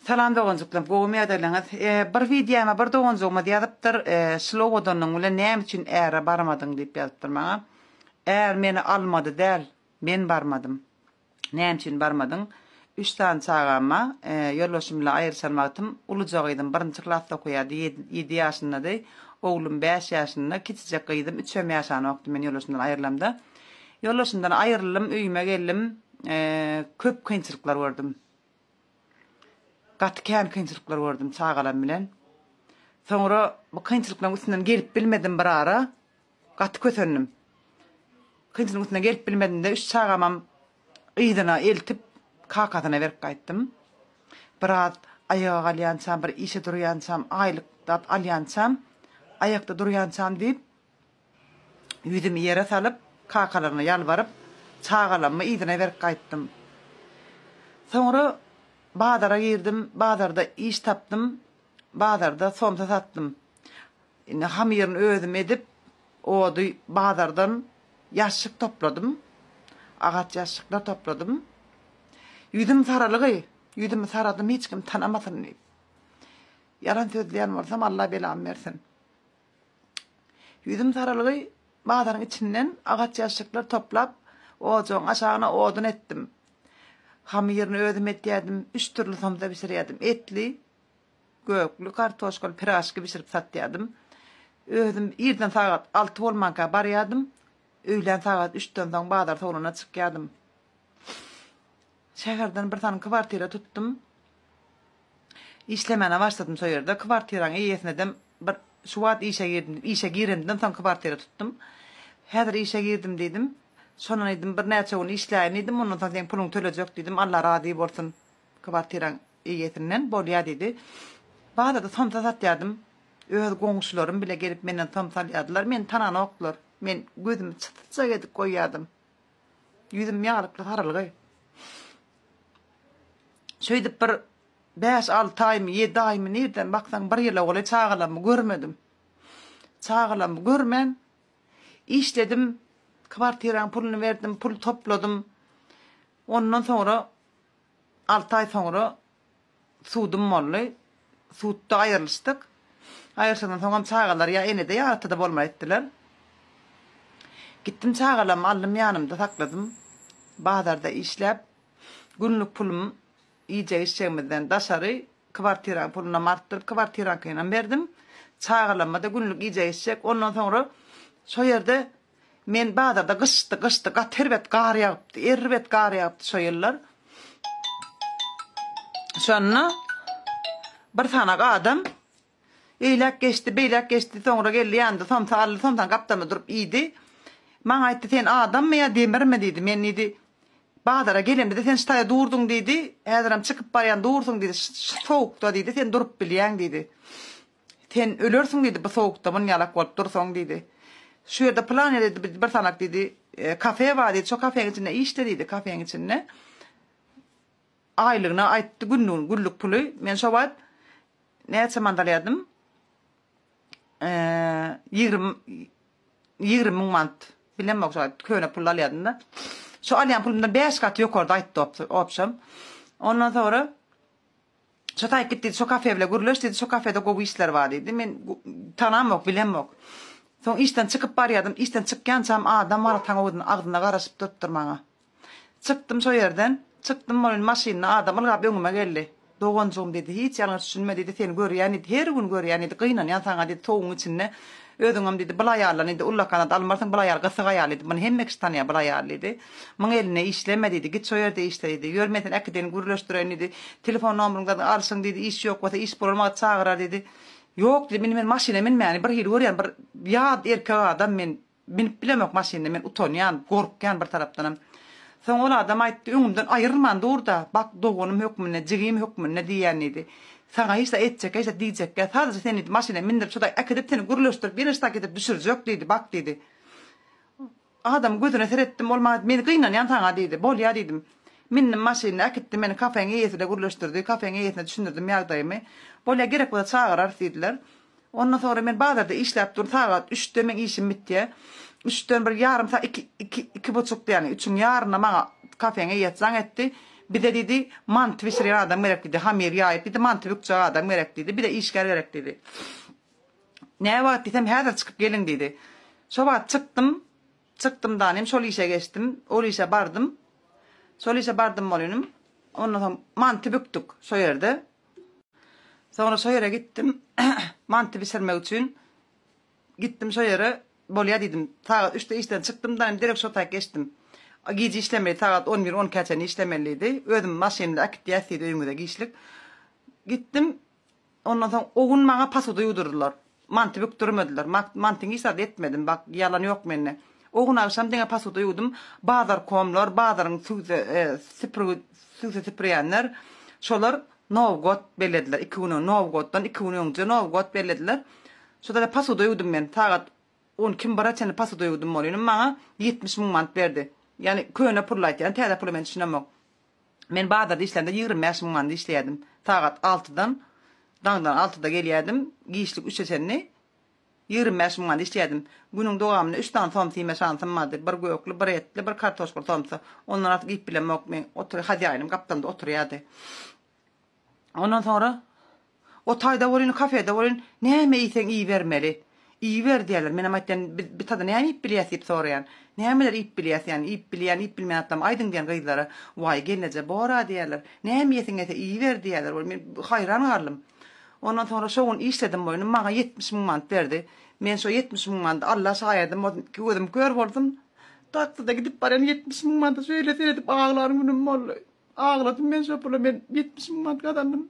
Salam doganjyklarym gowumy ýagdaýlaryňyz e bir wideoma bir doganjygymyz ýazypdyr e şlou odanyň bilen näme üçin äre barmadyň diýip ýazypdyr maňa är meni almady däl men barmadym näme üçin barmadyň üç sany çagam ba e ýolbaşym bilen aýryşan wagtym uluja gyzym birinji klasda okaýardy ýedi ýedi ýaşyndady oglum bäş ýaşynda kiçijek gyzym üçem ýaşanokdy men ýolbaşymdan aýrylamda Ýoldaşymdan aýryldym, öýüme geldim. Köp kynçylyklar gördüm. Gaty kän kynçylyklar gördüm çagalarym bilen. Soňra bu kynçylyklaryň üstünden gelip bilmedim bir ara. Gaty kösendim. Kynçylygyň üstünden gelip bilmedimde üç çagamam yzyna eltip kakasyna berip gaýtdym. Biraz aýaga galýançam, bir işe durýançam, aýlyk dap alýançam, aýakda durýançam diýip, Ýüzümi ýere salyp, kakalaryma ýalbaryp, çagalammy yzyna berip gaýtdym. Soňra bazara girdim, bazarda iş tapdym, bazarda somsa satdym. Indi hamyryny özüm edip, ody bazardan ýaşşyk topladym, agaç ýaşşyklar topladym. Ýüzüm saralygy, ýüzümi saradym hiç kim tanamasyn diýip. Ýalan sözleýän bolsam, Alla belamy bersin. Ýüzüm saralygy bazaryň içinden agaç ýaşşyklar toplap, ojagyň aşagyna odun etdim. Hamyryny özüm etýärdim, üç dürli somsa bişirýärdim. Etli, gökli, kartoşkaly piraşki bişirip satýardym. Özüm irden sagat alty bolmanka barýardym, öýlän sagat üçden soň bazar sowlana çykýardym. Şäherden bir sany kwartira tutdum. Işlemäne başladym şo ýerde. Kwartiraň eýesinedem bir şu wagt işe girdim diýip, işe girendimden soň kwartira tutdum. Häzir işe girdim diýdim. Şondan aýdym birnäçe gün işläýin diýdim. Ondan soň seň puluňy tölejek diýdim. Allah razy bolsun kwartiraň eýesinden. Bolýa diýdi. Bazarda somsa satýardym. Öz goňşularym bile gelip menden somsa alýardylar. Meni tananokdylar. Men gözümi çytjak edip goýýardym. Ýüzüm ýalypdy garalygy. Şeýdip bir bäş-alty aýmy, ýedi aýmy nirden baksaň bir ýyl ogly çagalarmy görmedim. Çagalarmy görmän işledim, kwartiraň puluny berdim, pul topladym. Ondan soňra alty aý soňra Sudum boldy. Sudda aýrylyşdyk. Aýrylyşandan soňam çagalar ýa enede ýa atada bolmaly etdiler. Gitdim çagalarmy aldym ýanymda sakladym. Bazarda işläp, günlük pulum iýjek-içjegimizden daşary kwartiraň pulunam artdyryp kwartiraňkynam berdim. Çagalarma-da günlük iýjek-içjek. Ondan soňra şo ýerde Men bazarda gyşdy, gyşdy, gaty erbet gar ýagypdy, erbet gar ýagypdy şo ýyllar. Şonda bir sanak adam eýläk geçdi, beýläk geçdi, soňra geldi ýandy, somsa aldy, somsany gapdalynda durup iýdi. Maňa aýtdy, sen adammy ýa demirmi diýdi. Men diýdi, bazara gelemde sen ştaýa durduň diýdi, häzirem çykyp barýan dursuň diýdi, şu sowukda diýdi, sen durup bilýäň diýdi. Sen ölersiň diýdi, bu sowukda muny ýalak bolup dursaň diýdi. Şu ýerde pylan ýerde diýdi, biz bir sanak diýdi, kafe bar diýdi, şo kafeň içinde işle diýdi, kafeň içinde. Aýlygyny aýtdy, günlügini, günlük puly. Men şo wagt näçe mant alýardym? Ýigrimi ýigrimi müň mant. Bilemok şo wagt köne pul alýardym-da. Şo alýan pulumdan bäş gat ýokarda aýtdy opşam. Ondan soňra Şo taýyp git diýdi, şo kafe bile gürleş diýdi, şo kafede gowy işler bar diýdi. Men tanamok, bilemok. Soň işden çykyp barýardym, işden çykýançam adam bar, taň owudyna agzyna garaşyp durupdyr maňa. Çykdym şo ýerden, çykdym bolin maşynda adam ylgap öňüme geldi. Doganjygym diýdi, hiç ýalňyş düşünme diýdi, seni görýän diýdi, her gün görýän diýdi, gynanýan saňa diýdi, towugyň içinde Özüňem diýdi, bul aýaldan indi ullakanat almarsyň, bul aýal gysyk aýal diýdi, muny hemme kişi tanýar bul aýaly diýdi. Muň elinde işleme diýdi, git şo ýerde işle diýdi. Ýör, men seni äkidirin, gürleşdireýin diýdi. Telefon nomeryňdady alşyň diýdi, iş ýok bolsa, iş bolan wagty çagyrar diýdi. Ýok diýdim, indi men maşyna münmäni birhili görýän, bir ýat erkek adam men münüp bilemok maşyna, men utanýan, gorkýan bir tarapdanam. Soň ol adam aýtdy, öňümden aýrylman dur-da, bak doganym hökmünde, jigim hökmünde diýýän diýdi. Saňa hiç zat etjekkä, hiç zat diýjekkä, sadajy seni diýdi, maşyna mindirip, şuday äkidip, seni gürleşdirip, ýene şudaky getirip düşürjek diýdi, bak diýdi. Adamyň gözüne seretdim, ol maňa, men gynanýan saňa diýdi. Bolýa diýdim. Mindim maşynyna, äkitdi meni kafeň eýesine gürleşdirdi, kafeň eýesine düşündirdim ýagdaýymy. Bolýa gerek bolsa çagyrarys diýdiler. Ondan soňra men bazarda işläp dur, sagat üçde meň işim bitýär. Üçden bir ýarym sagat, iki, iki, iki buçukda ýagny üçüň ýaryna maňa kafeňe ýet jaň etdi. Bize diýdi, manty bişirýän adam gerek diýdi, hamyr ýaýyp diýdi, manty bükjek adam gerek diýdi, bir-de işgär gerek diýdi. Näwagt diýsem, häzir çykyp geliň diýdi. Şo wagt çykdym. Çykdym danym, şol işe geçdim. Ol işe bardym. Şol işe bardym bolunim. Ondan soň manty bükdük şo ýerde. Soňra şo ýere gitdim. Manty bişirmek üçin gitdim şo ýere. Bolýar diýdim. Sagat üçde işden çykdym da, derek şo taýak geçdim. Gije işlemeli, sagat on bir, on ikä çenli işlemeli diýdi. Özüm maşynymda äkitýäs diýdi öýüňize giçlik. Gitdim. Ondan soň o gün maňa posuda ýuwdurdylar. Manty bükdürmediler. Mantyňy hiç zat etmedim. Bak, ýalan ýok mende. O gün agşam diňe posuda ýuwdum. Bazarkomlar, bazaryň sügse süpürgi sügse süpürýänler, şolar Nowgot bellediler. Iki gün öň Nowgotdan iki gün öňje Nowgot bellediler. Şodada posuda ýuwdum men. Sagat on iki bire çenli posuda ýuwdum ol. Ýöne maňa ýetmiş müň manat berdi. Ýagny köne pul aýtýar. Täze pula men düşünemok. Men bazarda işlände ýigrimi bäş müň manada işleýärdim. Sagat altydan, daňdan altyda gelýärdim, giçlik üçe çenli ýigrimi bäş müň manada işleýärdim. Günüň dowamynda üç sany somsa iýme şansym bardy, bir gökli, bir etli, bir kartoşkaly somsa. Ondan artyk iýip bilemok men. Otur, hazaýynym gapdalda oturýardy. Ondan soňra o taýda bolýan, kafede bolýan, näme iýseň iýibermeli. Iýiber diýýärler. Menem aýtýan, biz bir tada näme iýip bilýäs diýip soraýan. Nämeler iýip bilýäs ýany, iýip bilýän, iýip bilmeýän zatlamy aýdyň diýen gyzlara. Waý gelneje bor-a diýýärler. Näme iýesiň gelse iýiber diýýärler. Ol men haýran galdym. Ondan soňra şo gün işledim boýnum, maňa ýetmiş müň manat berdi. Men şo ýetmiş müň manady Alla şaýadym bolsun, iki gözüm kör bolsun, takside gidip barýan ýetmiş müň manady şeýle seredip aglan günüm boldy. Agladym men şo pula men ýetmiş müň manat gazandym.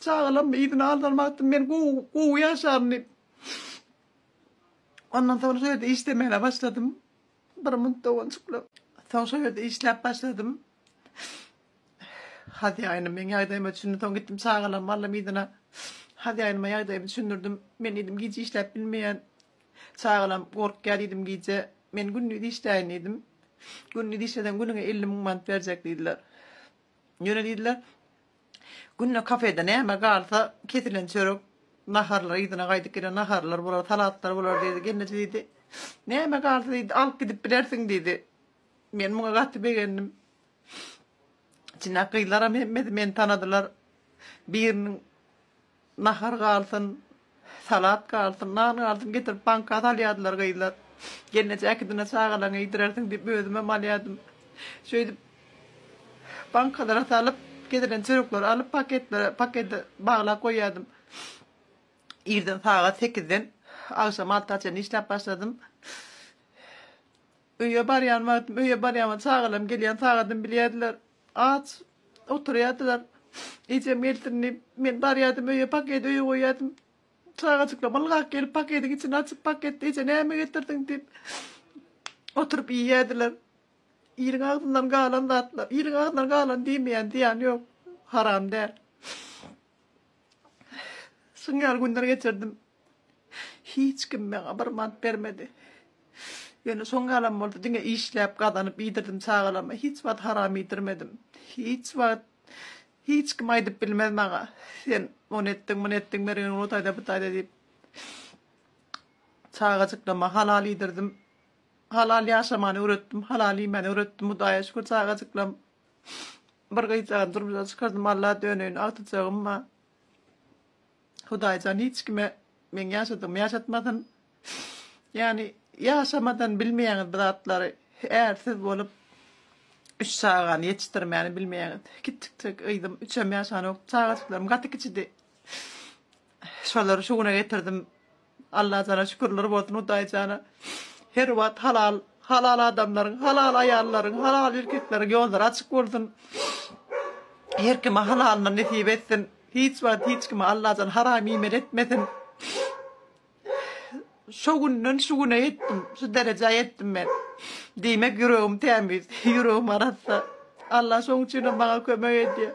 Çagalarmy yzyna aldyrmak etdim men gowy gowy ýaşaryn diýip. Ondan soň şo ýerde işlemäne başladym. Bir munt doganjykly. Soň şo ýerde işläp başladym. Hazaýynym meň ýagdaýyma düşündi. Soň gitdim çagalarymy aldym yzyna. Hazaýynyma ýagdaýymy düşündirdim. Men diýdim gije işläp bilmeýän. Çagalam gorkýar diýdim gije. Men gündiz işläýin diýdim. Gündiz işleseň günüňe elli müň manat berjek diýdiler. Ýöne diýdiler, günde kafede näme galsa kesilen çörek, naharlar yzyna gaýdyp gelen naharlar bolar, salatlar bolar diýdi. Gelneje diýdi, näme galsa diýdi, alyp gidip bilersiň diýdi. Men muňa gaty begendim. Çynlap gyzlaram hemmesi meni tanadylar. Biriniň Nahar galsyn, salat galsyn, nan galsyn getirip banka salýardylar gyzlar. Gelneje äkidine çagalaryňa iýdirersiň diýip özümem alýardym. Şeýdip bankalara salyp, getiren çörekleri alyp paketlere, pakete baglap goýýardym. Irden sagat sekizden agşam alta çenli işläp başladym. Öýe barýan wagtym, öýe barýan wagtym çagalarym gelýän sagadymy bilýärdiler. Aç oturýardylar. Ejem gelsin diýip, men barýardym öýe, paketi öýe goýýardym. Çagajyklam ylgap gelip, paketiň içini açyp, paketde eje näme getirdiň diýip, oturyp iýýärdiler. Iliň agzyndan galan zatlar, iliň agzyndan galan diýmeýän zyýany ýok, haram däl. Şuň ýaly günler geçirdim. Hiç kim maňa bir mant bermedi. Ýöne soň ýalam boldy, diňe işläp, gazanyp iýdirdim çagalarma. Hiç wagt haram iýdirmedim. Hiç wagt hiç kim aýdyp bilmez maňa, sen ony etdiň, muny etdiň, mergeniň o taýda, bu taýda diýip. Çagajyklama halal iýdirdim. Halal ýaşamany öwretdim, halal iýmäni öwretdim. Hudaýa şükür çagajyklam bir gyzjagazam durmuşa çykardym. Alla döneýin agtyjagym bar. Hudaýjan hiç kime meň ýaşadygymy ýaşatmasyn. Ýagny ýaşamadan bilmeýäňiz bir zatlary. Ärsiz bolup üç çagany ýetişdirmäni bilmeýäňiz. Kiçjikjek gyzym üçem ýaşanok. Çagajyklarym gaty kiçidi. Şolary şu güne getirdim. Allajana şükürler bolsun hudaýjana her wagt halal halal adamlaryň halal aýallaryň halal erkekleriň ýollary açyk bolsun her kime halalyny nesip etsin hiç wagt hiç kime Allajan haram iýmeli etmesin şo günden şu güne ýetdim şu derejä ýetdim men diýmek ýüregim tämiz ýüregim arassa Allah şoň üçinem maňa kömek edýär.